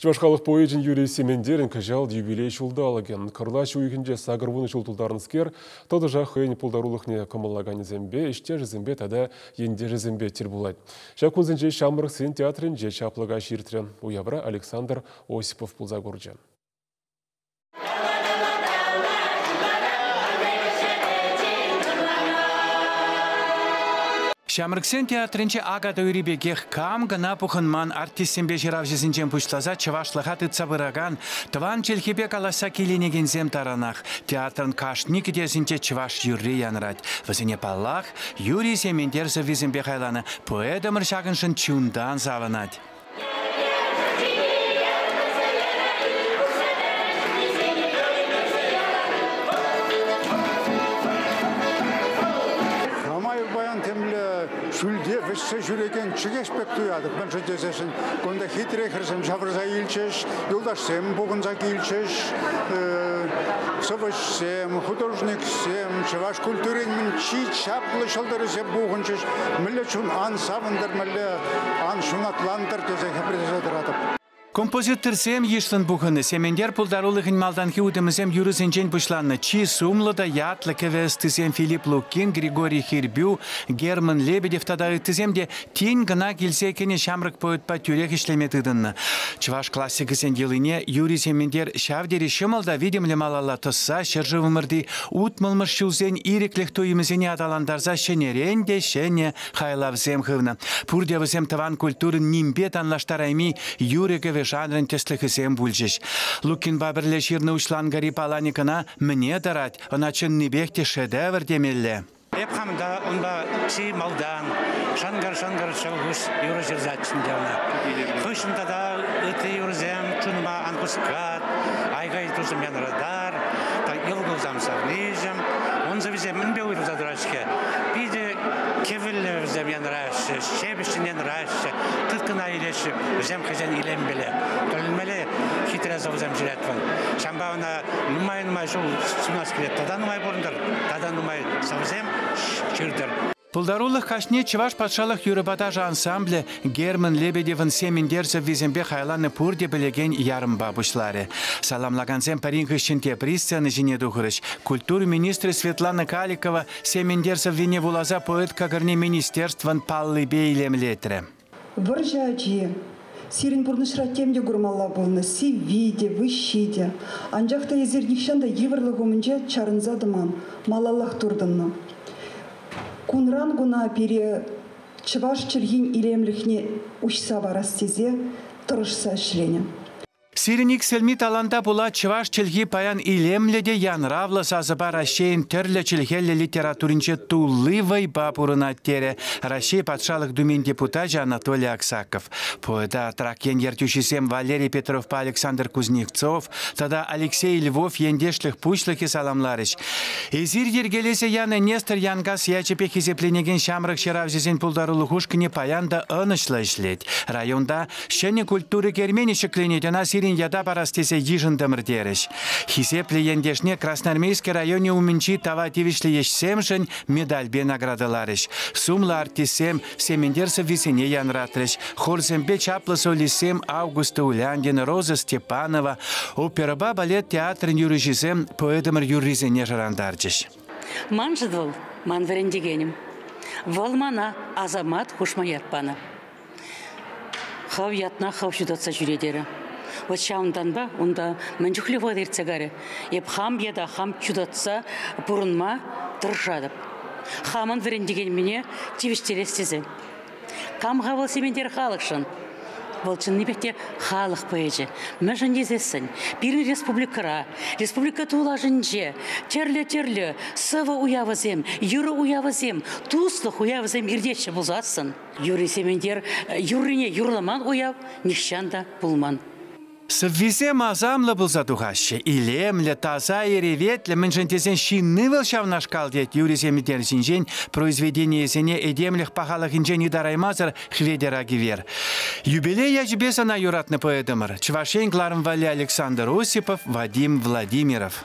Чӑваш халӑх поэчӗн Юрий Сементерӗн кӑҫал юбилей ҫулталӑкӗ. Кӑрлач уйӑхӗнче сакӑр вунӑ ҫул тултарнӑскер, тӑтӑшах хӑйӗн пултарулӑхне кӑмӑллаканӗсемпе, ӗҫтешӗсемпе тата ентешӗсемпе тӗл пулать. Ҫак кунсенче ҫамрӑксен театрӗнче чаплӑ каҫ иртрӗ. Уявра Александр Осипов пулса курчӗ. Ҫамрӑксен театрӗнче акатуй ӳри пекех кам кӑна пухӑнман артистсемпе ҫыравҫӑсенчен пуҫласа чӑвашлӑха тытса пыракан тӑван чӗлхепе калаҫса киленекенсем таранах театрӑн кашни кӗтесӗнче чӑваш юрри янӑрать. Вӗсене паллах, Юрий Сементер сӑввисемпе хайланӑ поэтӑмӑр ҫакӑншӑн чунтан савӑнать. ҫӳлте вӗҫсе ҫӳрекен чӗкеҫ пек туятӑп мӗншӗн тесессӗн кунта хитре хӗрсем ҫавӑрса илчӗҫ, юлташсем пухӑнса килчӗҫ, сӑвӑҫсем, художниксем, чӑваш культурин чи чаплӑ ҫӑлтӑрӗсем пухӑнчӗҫ. Мӗнле чун ан савӑнтӑр, мӗнле Ан ҫунатлантӑр тесе хӗпӗртесе тӑратӑп. Композиторсем йышлӑн пухӑннӑ. Сементер пултарулӑхӗн малтанхи утӑмӗсем юрӑсенчен пуҫланнӑ Чи сумлӑ та ятлӑ кӗвӗ ӑстисем Филипп Лукин, Григорий Хирбю, Герман Лебедев тата ыттисем те тин кӑна килсе кӗнӗ ҫамрӑк поэтпа тӳрех ӗҫлеме тытӑннӑ. Чӑваш классикӗсен йӑлине Юрий Сементер ҫав тери ҫӑмӑл та витӗмлӗ малалла тӑсса ҫӗршывӑмӑрти утмӑлмӗш ҫулсен ирӗклӗх туйӑмӗсене аталантарса ҫӗнӗрен те ҫӗнӗ хайлавсем хывнӑ. Пурте вӗсем тӑван культурӑн нимпе танлаштарайми юрӑ-кӗвӗ жанрӗн тӗслӗхӗсем пулчӗҫ. Лукинпа пӗрле ҫырнӑ уҫланкӑри Паланикӑна мӗне тӑрать, ӑна чӑннипех те шедевр темелле. Эп хам та унпа чи малтан шӑнкӑр-шӑнкӑр чӑлхуш юрӑ ҫырсаччӗ ӗнтӗ ӑна. Хыҫҫӑн тата ытти юрӑсем чунӑма ан хускат, айкай тусӑм янратар, тата йӑл кулсам савниҫӗм, ун сӑвисем мӗнпе уйрӑлса тӑраҫ-ҫке. Питӗ Кӗвӗллӗ вӗсем янраҫҫӗ, ҫепӗҫҫӗн янраҫҫӗ. Тыткӑна илеҫҫӗ вӗсем хӑйсен илемпеле. Тӗлӗнмелле хитре сӑвӑсем ҫырать вӑл. Ҫавӑнпа ӑна нумай-нумай ҫул сунас килет. Тата нумай пурӑнтӑр, тата нумай сӑвӑсем ҫыртӑр. Пултарулӑх каҫне Чӑваш патшалӑх юрӑпа ташӑ ансамблӗ Герман Лебедевӑн Семендер сӑввисемпе хайланӑ пурте пӗлекен ярӑмпа пуҫларӗ. Саламлакансем пӗрин хыҫҫӑн тепри сцена ҫине тухрӗҫ. Культура министрӗ Светлана Каликова Сементер сӑввине вуласа поэт Кӑкӑрни министерствӑн паллипе илемлетрӗ. Вӑрҫӑ ачи. Сирӗн пурнӑҫра тем те курмалла пулнӑ, сивви те, выҫҫи те. Анчах та эсир нихҫан та йывӑрлӑх умӗнче чарӑнса тӑман, малаллах туртӑннӑ. Кунран куна пире чӑваш чӗлхин илемлӗхне уҫса парас тесе тӑрӑшса ӗҫленӗ. Сирӗн иксӗлми таланта пула чӑваш чӗлхи паян илемлӗ те янравлӑ сасӑпа Раҫҫейӗн тӗрлӗ чӗлхеллӗ литературинче тулли вӑйпа пурӑнать, терӗ Раҫҫей Патшалӑх Думин депутачӗ Анатолий Аксаков. Поэта Трак ен ертӳҫисем Валерий Петровпа Александр Кузнецов тата Алексей Львов ентешлӗх пуҫлӑхӗ саламларӗҫ. Эсир йӗркелесе янӑ Нестор Янкас ячӗпе хисепленекен ҫамрӑк ҫыравҫӑсен пултарулӑх ушкӑнӗ паян та ӑнӑҫлӑ ӗҫлет. Районта Ҫӗнӗ культура керменӗ ҫӗкленет, ӑна сирӗн ята парас тесе йышӑнтӑмӑр, терӗҫ. Хисеплӗ ентешне Красноармейски районӗ умӗнчи тава тивӗҫлӗ ӗҫсемшӗн медальпе наградӑларӗҫ. Сумлӑ артистсем Сементер сӑввисене янратрӗҫ. Хорсемпе чаплӑ солистсем Августа Уляндина, Роза Степанова, оперӑпа балет театрӗн юрӑҫисем поэтӑмӑр юррисене шӑрантарчӗҫ. Маншӑн вӑл, ман вӗрентекенӗм. Вӑл мана Асамат хушма ят панӑ. Хӑв ятна хӑв ҫутатса ҫӳре терӗ. Вот ҫавӑнтанпа унта мӗн чухлӗ вӑхӑт иртсе карӗ. Эп хам ята хам ҫутатса пурӑнма тӑрӑшатӑп. Хамӑн вӗрентекенмене тивӗҫтерес тесе. Кам-ха вӑл Сементер халӑхшӑн? Вӑл чӑннипех те халӑх поэчӗ. Мӗншӗн тесессӗн пирӗн республикӑра, республика тулашӗнче тӗрлӗ-тӗрлӗ сӑвӑ уявӗсем, юрӑ уявӗсем, туслӑх уявӗсем иртеҫҫӗ пулсассӑн, Юрий Сементер юррине юрламан уяв нихҫан та пулман. Сӑввисем асамлӑ пулса тухаҫҫӗ. Илемлӗ, таса, эреветлӗ, мӗншӗн тесен ҫынни вӑл ҫавнашкал, тет Юрий Сементер ҫинчен произведенийӗсене этемлӗх пахалӑхӗнчен ытараймасӑр Хветӗр Агивер. Юбилей ячӗпе сана юратнӑ поэтӑмӑр, Чӑваш Ен кӑларӑм валли Александр Осипов, Вадим Владимиров.